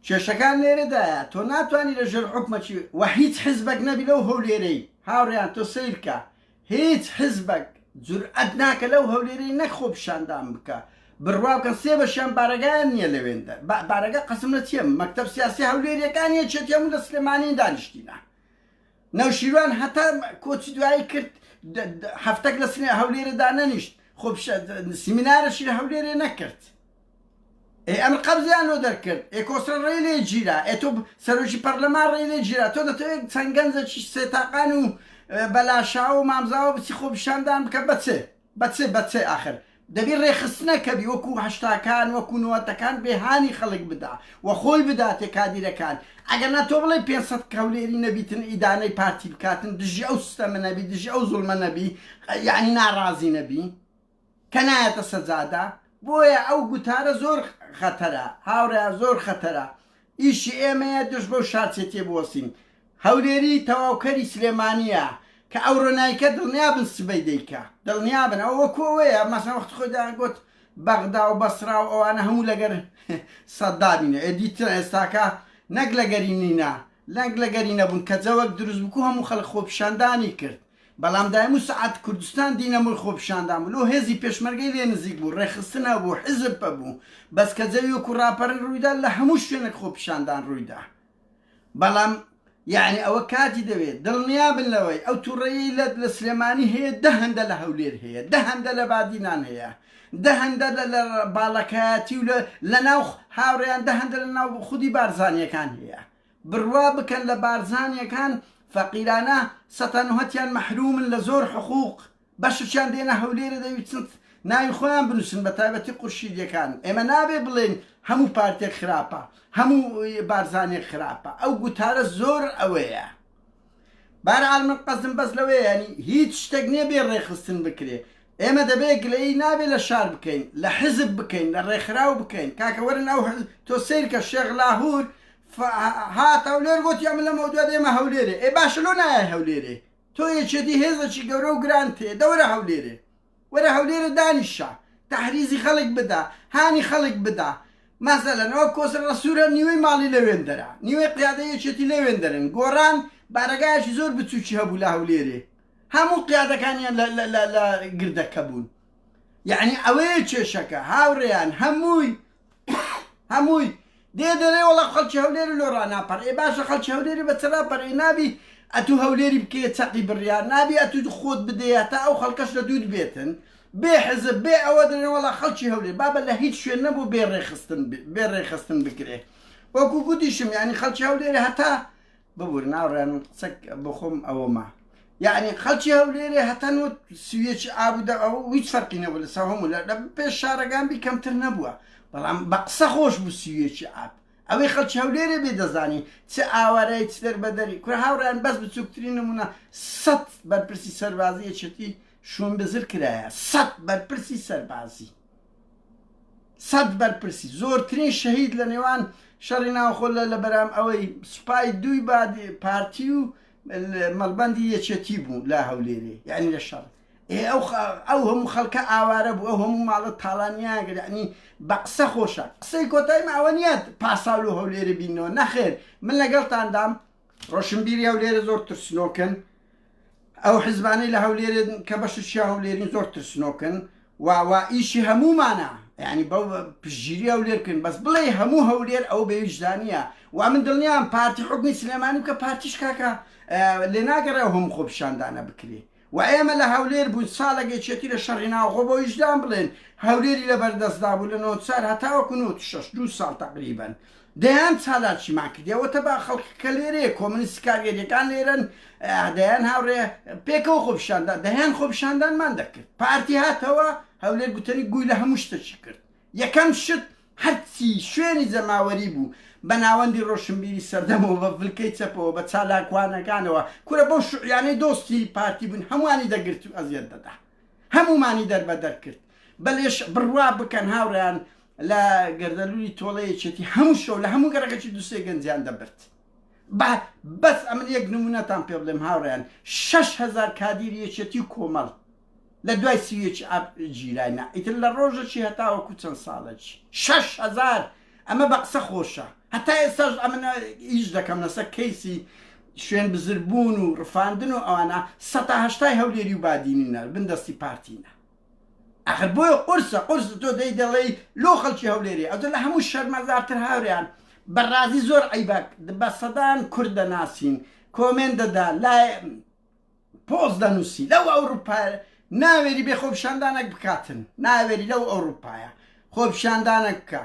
کێشەکان لێرەدایە تۆ ناتوانی لە ژێر حکومەکی و هیچ حزبەک نەبی لەو هەولێرەی هاوڕیان تۆ سیرکە هیچ حزبەک جورئەت ناکە لەو هەولێرەی نەک خۆ پیشاندان بکە بڕواکە سێ بەشیان بارەگایان نییە لەوێندە بارەگە قەسم لە چێم مەکتب سیاسی هەولێریەکان یەکێتی هەموو لە سلێمانی دانیشتینە نەوشیروان هەتا کۆچی دوایی کرد هەفتەک لە هەولێرە دانەنیشت خۆ سیمینارەشی لە هەولێرێ نەکرد ئەی ئەمر قەبزیان لۆ دەرکرد ئێ کۆسرە ڕێ لێ گیرا ئێ تۆ سەرۆکی پەرلەمان ڕێ لێ گیرا تۆ دەتەوێت چەند گەنجەکی سێتاقان و بەلاشاو و مامزاوە بچی خۆ پیشاندان بکە بەچێ بە چ بە چ ئاخر دەبی رێکخستنە کە بی وەکو هەشتاکان وەکو نۆەتەکان بێ هانی خەلک بدا و خۆی بداتێ کادیرەکان ئەگەر نا تۆ بڵێ پێنج سەد کەولێری نەبیتن ئیدانەی پارتی بکاتن دژی ئەو سستەمە نەبی دژی ئەو زوڵمە نەبی یانی نارازی نەبی کە نایەتە سەجادە بۆیە ئەو گوتارە زۆر خەتەرە هاورێیان زۆر خەتەرە ئیشی ئێمەیە دژ بەو شارچێتیە بوەستین. هەولێری تەواوکەری سلێمانیە کە ئەوڕۆ نایکە دڵنیابن سبەی دەیکا. دڵنیابن ئەوە وەکو ئەوەیە مەسەن وەختی خۆی دەیانگۆت بەغدا و بەسرا و ئەوانە هەموو لەگەر سەدامینە ئێ دیتن ئێستاکە نەک لەگەری نینە نەک لەگەری نەبوون کە جەوەک دروست بکو هەموو خەلک خۆپیشاندانی کرد بەڵام دایمو سەعات کوردستان دینە مل خۆپیشاندان بوو لۆ هێزی پێشمەرگەی لێ نزیک بوو ڕێکخستن هەبوو حیزب پەبوو بەس کە جەوی وەکو ڕاپەڕین ڕوویدا لە هەموو شوێنەک خۆپیشاندان ڕوویدا بەڵام یەعنی ئەوە کاتی دەوێ دڵنیا بن لەوەی ئەو توڕەیەی لە لە سلێمانی هەیە دە هەندە لە هەولێر هەیە دە هەندە لە بادینان هەیە دە هەندە لە لە باڵەکایەتی و لە لە ناو هاوڕێیان دە هەندە لە ناو خودی بارزانیەکان هەیە بروا بکەن لە بارزانیەکان فەقیرانە سەتانوهەتیان مەحرومن لە زۆر حقوق بەشچیان دێنە هەولێرە دەویتن ناوی خۆیان بنوسن بە تایبەتی قورشیدیەکان ئێمە نابێ بڵێن هەموو پارتێک خراپە هەموو بارزانێک خراپە ئەو گوتارە زۆر ئەوەیە بارعال من قەزم بەس لەوەیە ینی هیچ شتێک نیە بێ ڕێخستن بکرێ ئێمە دەبێ گلەیی نابێ لە شار بکەین لە حزب بکەین لە ڕێکخراو بکەین کاکە وەرن ئەو حزب تۆ سەیرکە شێخ لاهور هات هەولێر گوت یا من لەمەو دوا دێمە هەولێرێ ئێ باشە لۆ نایە هەولێرێ تۆ یەکێتی هێزەکی گەورە و گران تێ دەورە هەولێرێ وەرە هەولێرە دانیشە تحریزی خەڵک بدا هانی خەڵک بدا مەسەلەن ئەوە کۆسر ڕسوورە نیوەی ماڵی لەوێندەرە نیوەی قیادە یەکێتی لەوێندەرن گۆڕان بارەگایەکی زۆر بچووکی هەبوو لە هەولێرێ هەموو قیادەکانیان لە لە لە لە گردەکە بوون یعنی ئەوەیە کێشەکە هاوڕێیان هەمووی هەمووی دێ دەرێ وڵا خەڵکی هەولێری لۆ ڕناپەر ئێ باشە خەڵکی هەولێری بە چراپەر ئێ نابی ئەتوو هەولێری بکەیە چەقی بڕیار نابی ئەتوو خۆت بدەیە تا ئەو خەڵکەش لە دوود بێتن بێ حزب بێ ئەوە دەێن وڵا خەڵکی هەولێر بابە لە هیچ شوێن نەبوو بێ ڕێخستن بێ ڕێخستن بکرێ وەکو گوتیشم ینی خەڵکی هەولێری هەتا ببور ناوڕێن قسەک بخۆم ئەوەما یعنی خەڵکی هەولێرێ هەتەن و سویەکی ئابوودا ئەو هیچ فەرقی نەبوو لە ساهۆم و لە پێش شارەکان بی کەمتر نەبووە بەڵام بە قسە خۆش بوو سویەکی ئاب ئەوەی خەڵکی هەولێرێ بێ دەزانی چ ئاوارای چ دەربەدەری کورە هاوڕیان بەس بچووکترین نمونە سەد بەرپرسی سەربازی یەکێتی شوون بزر کرایە سەد بەرپرسی سەربازی سەد بەرپرسی زۆرترین شەهید لە نێوان شەڕی ناوخۆ لە لە بەرام ئەوەی سوپای دووی بادی پارتی و مەڵبەندی یەکێتی بوو لە هەولێرێ یعنی لە شەڕ ئەو هەموو خەڵکە ئاوارە بوو ئەو هەموو ماڵە تاڵانیاگر یعنی بە قسە خۆشە قسەی کۆتایمە ئەوە نییە پاساول و هەولێرە بینەوە نەخێر من لەگەڵتاندام ڕۆشنبیری هەولێرە زۆر ترسنۆکن ئەو حزبانەی لە هەولێرن کە بەششی هەولێرین زۆر ترسنۆکن واوا ئیشی هەمومانە ینی بەو پژگیری ئەو لێرکن بەس بڵێ هەموو هەولێر ئەو بێویژدانە و من دڵنیام پارتی حکومی سلێمانی کە پارتیش کاکە لێناگەڕێ هەم خۆپشاندانە بکرێ وە ئێمە لە هەولێر بووین ساڵێک یەکێتی لە شەڕی ناوخۆ بۆ ویژدان بڵێن هەولێری لە بەردەستدا بوو لە نۆ چار هەتاوەکو نۆ شەش دوو ساڵ تەقریبەن دەیان چالاکیمان کردی ئەوە تە با خەڵک کە لێرەیە کۆمنیست کارگەریەکان لێرەن دەیان هاوڕێ پێکەوە خۆپیشاندان دەیان خۆپیشاندانمان دەکرد پارتی هاتەوە هەولێر گوتەنی گووی لە هەموو شتەکی کرد یەکەم شت هەرچی شوێنی جەماوەری بوو بە ناوەندی ڕۆشنبیری سەردەمەوە بە فلکەی چەپەوە بە چالاکوانەکانەوە کورە بەو شوعیانەی دۆستی پارتی بوون هەمووانی دەگرت و ئەزیەت دەدا هەموومانی دەربەدەر کرد بە لێش بڕوا بکەن هاوڕێیان لە گەردەلولی تۆڵە یەکێتی هەموو شەو لە هەموو گەڕەکەکی دوسێ گەنجیان دەبرد بە بەس ئەمن یەک نمونەتان پێ بڵێم هاوڕێیان شەش هەزار کادیر یەکێتی و کۆمەڵ لە دوای سی و یەک ئاب گیرای نا ئیتر لە ڕۆژەکی هەتاوەکو چەند ساڵەکی شەش هەزار ئەمە بە قسە خۆشە هەتا ئێستاش ئەمن ئیش دەکەم لەسەر کەیسی شوێن بزر بوون و ڕفاندن و ئەوانە سەتا هەشتای هەولێری و بادینینە بن دەستی پارتینە ئەخر بۆیە قورسە قورس تۆ دەی دەڵێی لۆ خەڵکی هەولێری ئەوجە لە هەموو شەرمەزارتر هاوریان بەڕازی زۆر عیبە بە سەدان کورد دەناسین کۆمێن دەدا لای پۆست دەنووسی لەو ئەوروپایە ناوێری بێ خۆپیشاندانەک بکاتن ناوێری لەو ئەوروپایە خۆپیشاندانەک بکە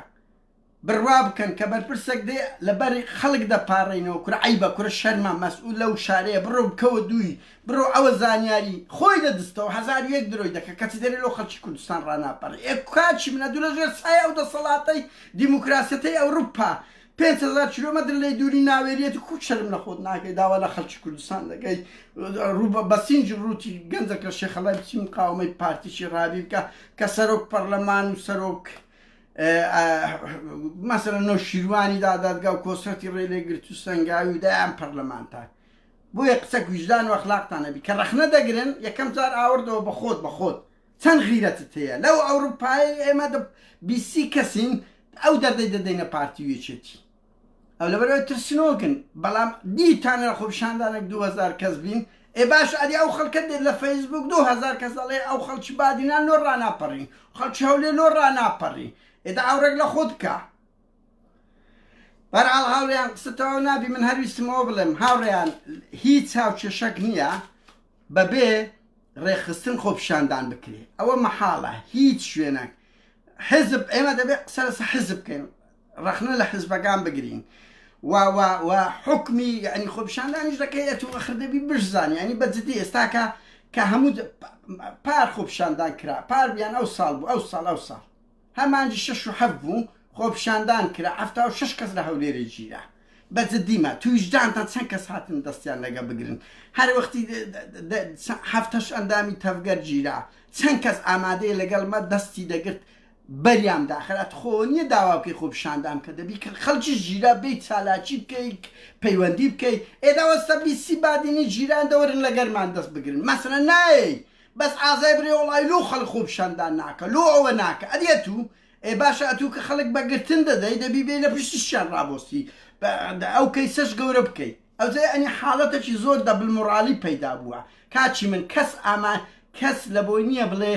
بڕوا بکەن کە بەرپرسێک دێ لەبەر خەڵک دەپارڕینەوە کورە عیبە کورە شەرمە مەسئول لەو شارەیە بڕۆ بکەوە دووی بڕۆ ئەوە زانیاری خۆی دەدستەوە هەزار یەک درۆی دەکە کەچی دەری لۆ خەڵکی کوردستان ڕاناپەڕی ئێ کاچی منە دوو لە ژێر سایە ئەو دەسەڵاتەی دیموکراسیەتەی ئەوروپا پێنج هەزار کیلۆمەتر لێی دووری ناوێریەتی کو شەرم لە خۆت ناکەی داوا لە خەلکی کوردستان دەکەی ڕوو بە بەسینج ڕووتی گەنجەک لە شێخەڵای بچی مقاومەی پارتیی ڕابی بکە کە سەرۆک پەرلەمان و سەرۆک مەسەرە نۆ شیروانی دادادگا و کۆسرەتی ڕێ لێ گرت و سنگاوی و دایان پەرلەمانتان بۆیە قسە گوژدان و ئەخلاقتان نەبی کە ڕەخنە دەگرن یەکەم جار ئاوردەوە بە خۆت بە خۆت چەند غیرەتت هەیە لەو ئەوروپایەی ئێمە دە بیست سی کەسین ئەو دەردەی دەدەینە پارتی و یەکێتی ئەو لەبەرەوەی ترسنۆکن بەڵام دیتانە لە خۆپیشاندانێک دوو هەزار کەس بین ئێ باش ئەدی ئەو خەڵکە دێت لە فەیسبووک دوو هەزار کەس دەڵێ ئەو خەڵکی بادینان لۆ ڕاناپەڕین خەڵکی هەولێر لۆ ڕاناپەڕین ئێدا ئاوڕێک لە خۆت بکە بەرحاڵ هاوڕێیان قسەتەوە نابی من هەرویستمەوە بڵێم هاوڕێیان هیچ چاوکێشەک نییە بەبێ ڕێکخستن خۆپیشاندان بکرێت ئەوە مەحاڵە هیچ شوێنەک حزب ئێمە دەبێت قسە لەسە حزب بکەین ڕخنە لە حزبەکان بگرین حکمی ینی خۆپیشاندانیش دەکەی ئەتو ئەخردەبی بشزانانی ینی بەجددی ئێستاکە کە هەموو پار خۆپیشاندان کرا پار بیان ئەو ساڵ بوو ئەو ساڵ ئەو ساڵ هە مانگی شەش و حەفت بوو خۆپیشاندان کرا حەفتا و شەش کەس لە هەولێرێ گیرا بە جدی مە تویژدانتان چەند کەس هاتن دەستیان لەگە بگرن هەر وەختی هەفتەش ئەندامی تەڤگەر گیرا چەند کەس ئامادەیە لەگەڵ مە دەستی دەگرت بەریان داخر ئەت خۆ نییە داوا بکەی خۆ پیشاندان کە دەبی کە خەڵکی ژیرا بیت چالاکی بکەیت پەیوەندی بکەیت ئێداوەستە بیسی بادینی جیران دەوەرن لەگەرمان دەست بگرن مەسەلە نایەی بەس ئازای برێ وەڵای لۆ خەڵک خۆ پیشاندان ناکە لۆ ئەوە ناکە ئەدی ئەتوو ئێ باشە ئەتوو کە خەڵک بە گرتن دەدەی دەبی بێی لە پشتیشیان ڕابۆستی بە ئەو کەیسەش گەورە بکەی ئەوجەی ئەنی حاڵەتەکی زۆر دەبل موڕاڵی پەیدا بووە کاکی من کەس ئاما کەس لە بۆی نییە بڵێ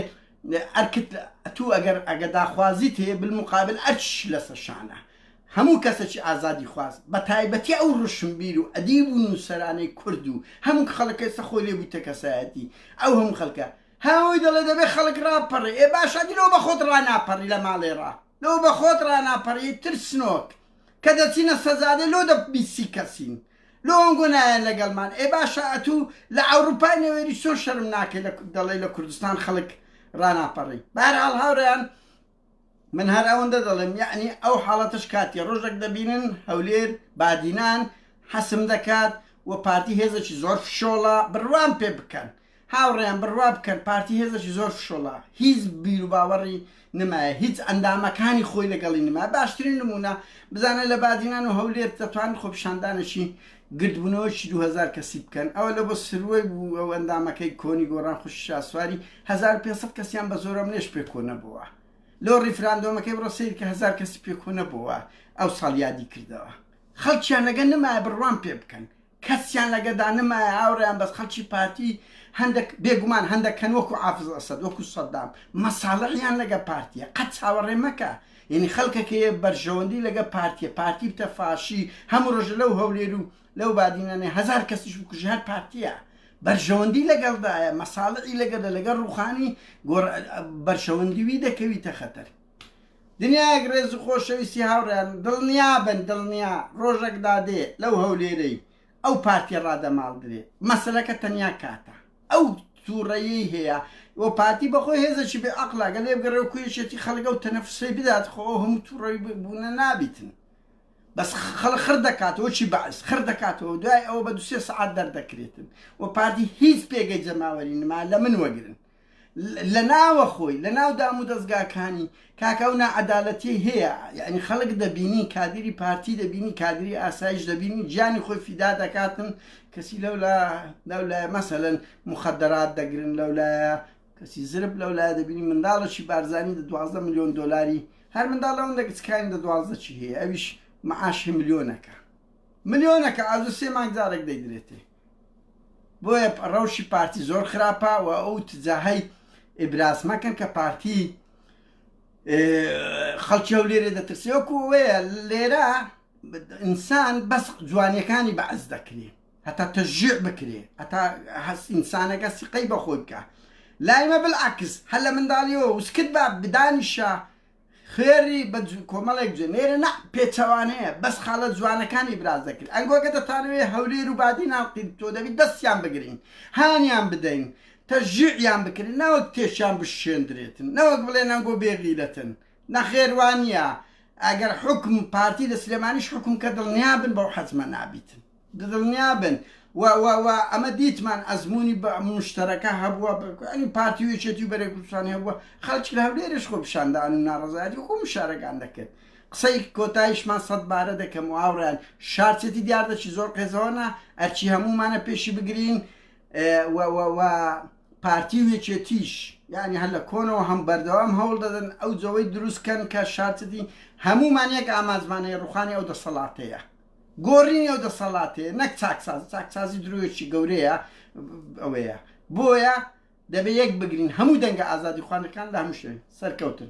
ئەرکت ئەتوو ئەگەر ئەگە داخوازیت هەیە بل موقابل ئەرکیش لەسە شانە هەموو کەسێکی ئازادیخواز، بەتایبەتی ئەو ڕۆشنبیر و ئەدیب و نووسەرانەی کورد و هەموو خەڵک کە ئێستا خۆی لێ بوویتە کەسایەتی، ئەو هەموو خەڵکە هەر ئەوەی دەڵێ دەبێ خەڵک ڕابپەڕێ، ئێ باشە ئەدی لۆ بەخۆت ڕاناپەڕی لە ماڵێ ڕا، لۆ بەخۆت ڕاناپەڕی ئەی ترسنۆک، کە دەچینە سەجادێ لۆ دە بیست سی کەسین، لۆ ئەنگۆ نایەن لەگەڵمان، ئێ باشە ئەتوو لە ئەوڕوپای نەوێری چۆن شەرم ناکەی دەڵێی لە کوردستان خەڵک ڕاناپەڕی، بەهەرحاڵ هاوڕێیان من هەر ئەوەندە دەڵێم یەعنی ئەو حاڵەتەش کاتیە ڕۆژەک دەبینن هەولێر بادینان حەسم دەکات و پارتی هێزەکی زۆر فشۆڵە بڕوام پێ بکەن هاوڕێیان بڕوا بکەن پارتی هێزەکی زۆر فشۆڵە هیچ بیروباوەڕی نمایە هیچ ئەندامەکانی خۆی لەگەڵی نما باشترین نمونە بزانە لە بادینان و هەولێر دەتوان خۆپیشاندانێکی گردبونەوەکی دوو هەزار کەسی بکەن ئەوە لە بۆ سروەی بوو ئەو ئەندامەکەی کۆنی گۆڕان خوشکی شاسواری هەزار و پێنج سەد کەسیان بە زۆر ئەمنێش پێ کۆ نەبۆوە لۆ ڕیفراندۆمەکەی بڕۆ سەیر کە هەزار کەسی پێ کۆ نەبۆوە ئەو ساڵ یادی کردەوە خەڵکیان لەگە نمایە بڕوام پێ بکەن کەسیان لەگە دا نمایە ئاوڕیان بەس خەڵکی پارتی هەندێک بێگومان هەندەکەن وەکو عافز ئەسەد وەکو سەدام مەساڵحیان لەگە پارتیە قەت چاوەڕێ مەکە یەنی خەلکەکەیە بەرژەوەندی لەگە پارتیە پارتی بتە فاشی هەمو رۆژە لەو هەولێرو لەو بادینانە هەزار کەسیش بکوژی هەر پارتیە بەرژەوەندی لەگەلدایە مەسالعی لەگەلە لەگە روخانی گۆر بەرژەوەندی وی دەکەویتە خەتەر دنیایەک رێزو خۆشەویستی هاوریان دلنیابن دلنیا رۆژەک دادێ لەو هەولێرەی ئەو پارتیە ڕادەماڵدرێ مەسەلەکە تەنیا کاتە ئەو توڕەیەی هەیە و پارتی بەخۆی هێزەکی بێ ئەقلا گەلێ بگەڕێ و کوێشێتی خەڵگە و تەنەفسەی بدات خۆ هەموو توڕەوی بوونە نابیتن بەس خەڵ خڕ دەکاتەوە چی بەعس خڕ دەکاتەوە دوای ئەوە بە دوسێ سعات دەردەکرێتن و پارتی هیچ پێگەی جەماوەری نما لە من وەگرن لە ناوەخۆی لە ناو دام و دەزگاکانی کاکە ئەو ناعەدالەتی هەیە یعنی خەڵک دەبینی کادری پارتی دەبینی کادری ئاسایش دەبینی گیانی خۆی فیدا دەکاتن کەسی لەو لە لەو لای مەسەن مخدرات دەگرن لەو لایە کەسی زرب لەو لای دەبینی منداڵەشی بارزانانی دە دوازدە میلیۆن دلاری هەر منداڵ لەوەن دەگچکانی دە دوازدە چی هەیە ئەویش معاشی ملیۆنەکە ملیۆنەکە ئازو سێ مانگ جارێک دەیدرێتێ بۆیە ڕەوشی پارتی زۆر خراپە و ئەو تجاهی ئیبراز مەکەن کە پارتی خەڵکی ئەو لێرێ دەترسێ وەکو وەیە لێرە ئینسان بەس جوانیەکانی بەعز دەکرێ هەتا تەژێ بکرێ هەتا هەست ئینسانەکە سقەی بەخۆی بکە لایمە بالعکس هەر لە منداڵیەوە وسکت بە بدانیشە خوێڕی بە کۆمەڵێک جوێن نێرە نا پێچەوانەیە بەس خاڵە جوانەکانی براز دەکرد ئەنگۆگە دەتانەوێ هەولێر و بادی ناڵقین تۆ دەبی دەستیان بگرین هانیان بدەین تەژیعیان بکرێن ناوەک تێشیان بشێندرێتن نەوەک بڵێن ئەنگۆ بێغیرەتن نەخێروانە ئەگەر حکم پارتی لە سلێمانیش حکم کە دڵنیابن بەو حەزمە نابیتن. ددڵنیابن وە وە وە ئەمە دیتمان ئەزموونی بە موشتەرەکە هەبووە بە ئەنی پارتی و یەکێتی و بەرەی کوردستانی هەبووە خەڵکی لە هەولێرش خۆ پیشاندان و ناڕەزایەتی خۆ مشارەکان دەکرد قسەی کۆتایشمان سەد بارە دەکەم و هاوڕیان شارچێتی دیار دەچی زۆر قێزەوەنا ئەرچی هەمومانە پێشی بگرین وە وە وە پارتی و یەکێتیش یعنی هەر لە کۆنەوە هەم بەردەوام هەوڵ دەدەن ئەو جەوەی دروستکەن کە شارچێتی هەمومان یەک ئامانجمانەیە ڕوخانی ئەو دەسەڵاتەیە گۆڕینی ئەو دەسەڵاتەیە نەک چاکسازی چاکسازی درۆیەکی گەورەیە ئەوەیە بۆیە دەبێ یەک بگرین هەموو دەنگە ئازادی خوانەکان لە هەموو شوێن سەرکەوتن